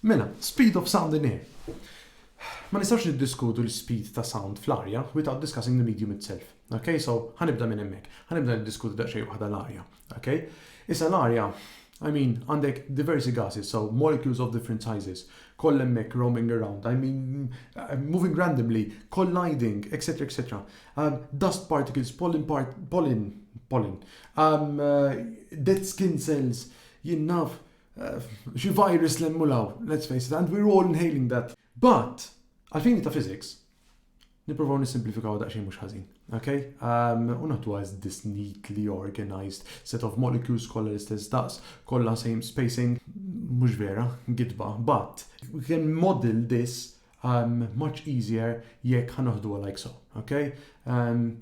Mela, speed of sound in air. Ma nistgħux niddiskutu l-speed ta' sound fl-arja without discussing the medium itself. Okay, so ħa nibda minn hemmhekk. Ħa nibda niddiskuti daqsxejn waħda l-arja. Ok? Issa l-arja, I mean, għandek diversi gases, so molecules of different sizes, koll hemmhekk roaming around, I mean, moving randomly, colliding, etc. etc. Um, dust particles, pollen, part, pollen, pollen, um, uh, dead skin cells, jinnaf, uh, xi virus l-emmulaw, let's face it, and we're all inhaling that. But, għalfini ta' physics, Nipprovaw nissimplifikaw daqsxejn mhux ħażin. Ok? Um, u naħduha as this neatly organized set of molecules kollha l-istess daqs, kollha same spacing, mhux vera, gidba, but we can model this um, much easier jekk ħanaħduha like so. Ok? Um,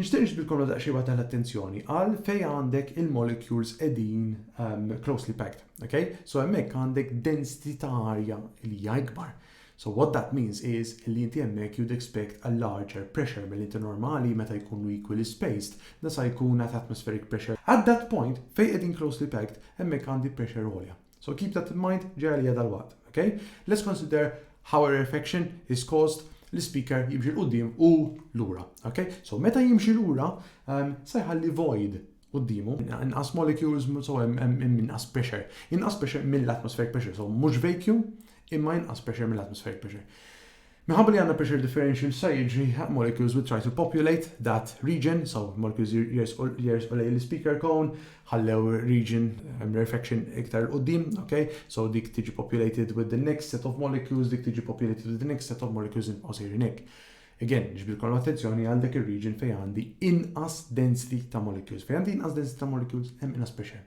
Nixtieq niġbidilkom għal daqsxejn waħda l-attenzjoni għal fejn għandek il-molecules qegħdin um, closely packed, okay? So hemmhekk għandek density ta' arja li hija ikbar. So what that means is li inti hemmhekk you'd expect a larger pressure mill inti normali meta jkunu equally spaced nasa jkun at atmospheric pressure. At that point fejn qegħdin closely packed hemmhekk għandi pressure għolja. So keep that in mind, ġej għalija dalwaqt, ok? Let's consider how a rarefaction is caused l-speaker jimxi l-qoddim u lura, ok? So meta jimxi lura, um, se jħalli void qoddimu, inqas molecules, so inqas pressure, inqas pressure mill-atmospheric pressure, so mhux vacuum, imma inqas pressure mill-atmospheric pressure. Minħabba li għandna pressure differential x'sa jiġri, molecules will try to populate that region, so molecules jersqu jersqu lejn l-ispeaker cone, ħallew region rarefaction iktar 'il quddiem, ok, so dik tiġi populated with the next set of molecules, dik tiġi populated with the next set of molecules inbqgħu sejrin hekk. Again, niġbidilkom l-attenzjoni għal dak ir-region fejn għandi inqas density ta' molecules. Fejn għandi inqas density ta' molecules, hemm inqas pressure.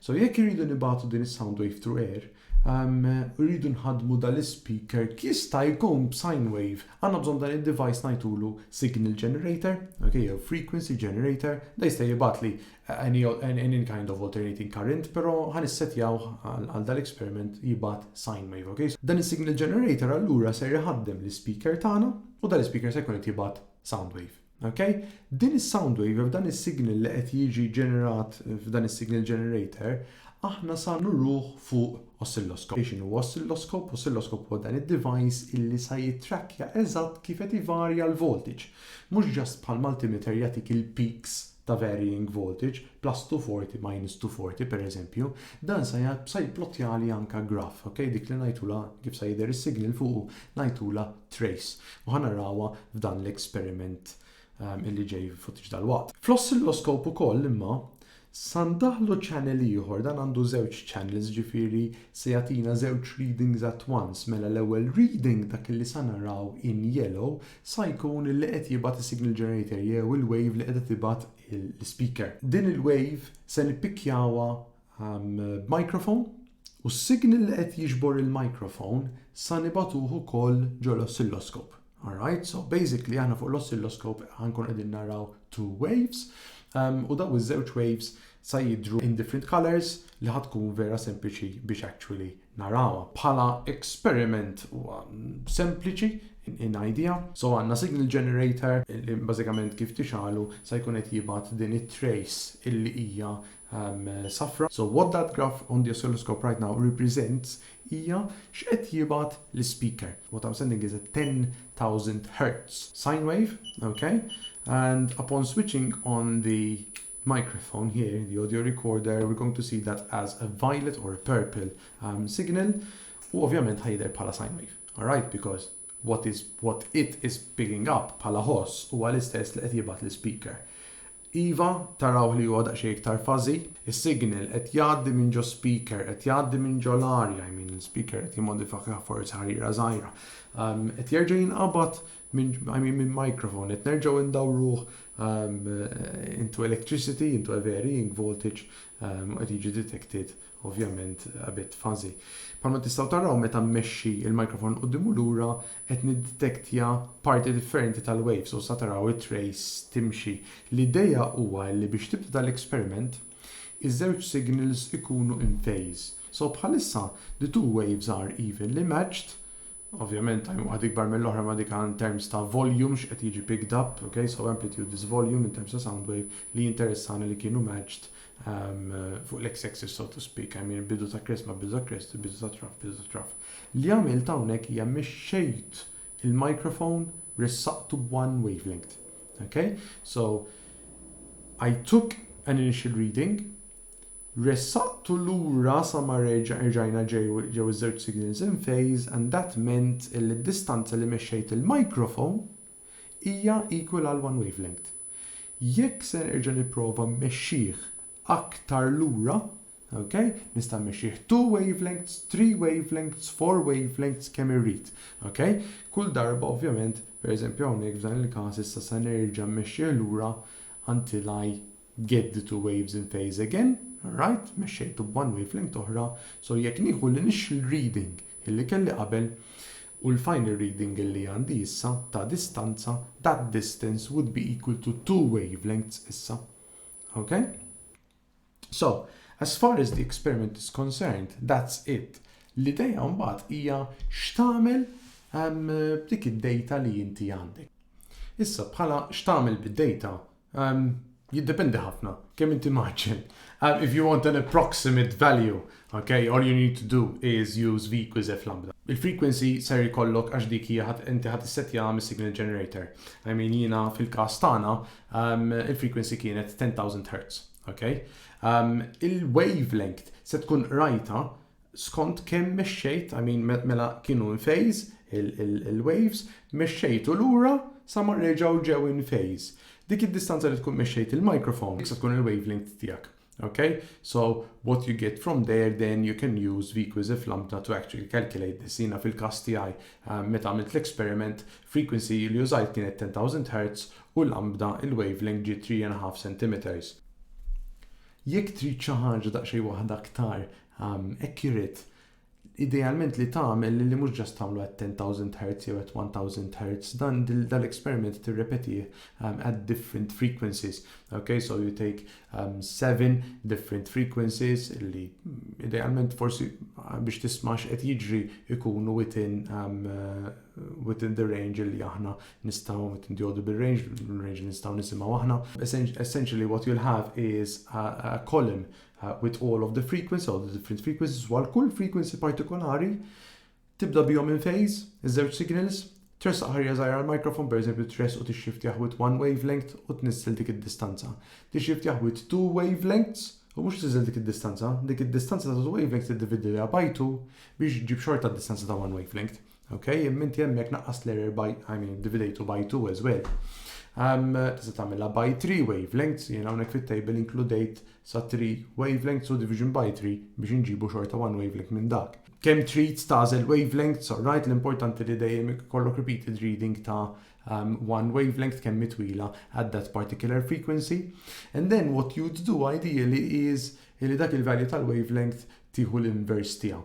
So jekk irridu nibagħtu din is-sound wave through air, umm irridu nħaddmu dan l-ispeaker jista' jkun b'sine wave. Għandna bżonn dan id-device ngħidulu signal generator, ok, jew frequency generator, dan jista' jibgħatli any kind of alternating current, però ħa nissettjawh għal dan l-experiment jibgħat sine wave, ok. Dan is-signal generator allura ser iħaddem l-ispeaker tagħna u dan l-ispeaker se jkun qed jibgħat sound wave. Ok? Din is-sound wave, f'dan is-signal li qed jiġi ġenerat f'dan is-signal generator, aħna sa nuruh fuq oscilloscope. X'inhu oscilloscope? Oscilloscope huwa dan id-device illi sa jittrakkja eżatt kif qed ivarja l-voltage. Mhux just bħal multimeter jagħtik il-peaks ta' varying voltage, plastu forti majnistu forti pereżempju, dan sa jgħadd sa jipplotjali anka graph, ok, dik li ngħidulha, kif sa jidher is-signal fuqu, ngħidulha trace, u ħa narawha f'dan l-experiment illi ġej f'ftit dalwaqt. Fl-oscilloscope ukoll imma, sa ndaħħlu channel ieħor, dan għandu żewġ channels ġifieri se jagħtina żewġ readings at once, mela l-ewwel reading dak illi sa naraw in yellow sa jkun illi qed jibgħat is-signal generator jew il-wave li qiegħda tibgħat l-ispeaker. Din il-wave se nippikkjawha b'microphone u s-signal li qed jiġbor il-microphone sa nibagħtuh ukoll ġo l-oscilloscope. Alright, so basically aħna fuq l-oscilloscope ħankun qegħdin naraw two waves u daw iż-żewġ waves sa jidru in different colors li ħatkun vera sempliċi biex actually narawha bħala experiment huwa sempliċi in idea. So għandna signal generator li bażikament kif tixgħalu se jkun qed jibgħat din it-trace illi hija um, safra. So what that graph on the oscilloscope right now represents hija x'qed jibgħat l-speaker. What I'm sending is a 10,000 hertz sine wave, okay? And upon switching on the microphone here in the audio recorder we're going to see that as a violet or a purple um, signal u ovvjament ħa jidher bħala sine wave. Alright, because what, is, what it is picking up bħala ħoss huwa l-istess li qed jibgħat l-speaker. Iva, taraw li huwa daqsxejn iktar fażi, is-signal qed jgħaddi minn ġo speaker, qed jgħaddi minn ġo l-arja, I mean, speaker qed jimmodifika forsi ħarira żgħira. Um, qed jerġa' jinqabad Min, I mean min microphone, qed nerġgħu indawruh um, into electricity, into a varying voltage, um, qed jiġi detected ovvjament a bit fuzzy. Palma tistgħu taraw meta mmexxi il-microphone quddimu lura qed niddetektja parti differenti tal-waves u sa taraw it-trace timxi. L-idea huwa li biex tibda dal-eksperiment Iż-żewġ signals ikunu in phase. So bħalissa the two waves are evenly matched, ovvjament time waħda ikbar mill-oħra ma dik in terms ta' volume x'qed jiġi picked up, okay, so amplitude is volume in terms ta' sound wave li jinteressana li kienu matched um, fuq l-x axis so to speak, I mean bidu ta' crest ma' bidu ta' crest, bidu ta' traf, bidu ta' traf. Li għamilt hawnhekk hija mixxejt il-microphone ressaqtu b'one wavelength. Okay? So, I took an initial reading, ressaqtu lura sa ma rġajna ġew iż-żewġ signals in phase and that meant li d-distanza li mexxejt il-microphone hija equal għal one wavelength. Jekk se nerġa' nipprova mmexxih aktar lura, Ok, nista' mmexxih two wavelengths, three wavelengths, four wavelengths kemm irrid. Ok, kull darba ovvjament, pereżempju hawnhekk f'dan il-każ issa se nerġa' mmexxih lura until I get the two waves in phase again, alright, mexxejtu b'one wavelength oħra, so jekk nieħu l-initial reading illi kelli qabel u l-final reading illi għandi issa ta' distanza, that distance would be equal to two wavelengths issa. Ok? So, as far as the experiment is concerned, that's it. L-idea mbagħad hija x'tagħmel um, b'dik id-data li inti għandek. Issa bħala x'tagħmel bid-data um, jiddependi ħafna kemm inti maġġel. Um, if you want an approximate value, okay, all you need to do is use v equals f lambda. Il-frequency ser jkollok għax dik hija inti ħadd issettjaha mis-signal generator. I mean jiena fil-każ tagħna Il-frequency kienet 10,000 Hz. Il-wavelength se tkun qrajtha skont kemm mexxejt, I mean mela kienu in phase il-waves, mexxejtu lura sa ma reġgħu ġew in phase. Dik id-distanza li tkun mexxejt il-microphone, dik se tkun il-wavelength tiegħek. Okay, so what you get from there then you can use VQuizy f'Lambda to actually calculate this. Jina fil-kas tiegħi eh, meta għamilt l-experiment, frequency li użajt kienet 10,000 Hz u Lambda il-wavelength ġi 3.5 cm. Jekk trid xi ħaġa daqsxejn waħda aktar um, accurate, idealment li tagħmel li mhux ġast tagħmlu at 10,000 Hz jew at 1000 Hz dan dal experiment tirrepetih um, at different frequencies okay so you take um, seven different frequencies li idealment forsi uh, biex tismax qed jiġri ikunu within um, uh, within the range li aħna nistgħu within the audible range range li nistgħu nisimgħu aħna essentially what you'll have is a, a column with all of the frequencies, all the different frequencies, dwar kull frequency partikolari, tibda bihom in phase, iż-żewġ signals, tressaq ħarja żgħira għall-microphone, pereżempju tress u tixxiftjah with one wavelength u tniżżel dik id-distanza. Tixxiftjah with two wavelengths u mhux tniżżel dik id-distanza, dik id-distanza ta' two wavelengths tiddividiha by two biex ġġib xorta d-distanza ta' one wavelength. Ok, imma inti hemmhekk naqqas l-error by, I mean, dividejtu by 2 as well. Um, tista' tagħmilha by 3 wavelengths, jiena hawnhekk fit-table inkludejt sa 3 wavelengths u division by 3 biex inġibu xorta 1 wavelength minn dak. Kemm trid tażel wavelengths, right, l-importanti li dejjem kollok repeated reading ta' um, one wavelength kemm mitwila at that particular frequency. And then what you'd do ideally is li dak il-value tal-wavelength tieħu l-inverse tiegħu.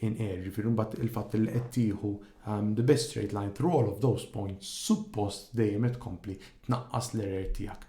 in air, jiġifieri mbagħad il-fatt li qed tieħu um, the best straight line through all of those points suppost dejjem qed tkompli tnaqqas l-error tiegħek.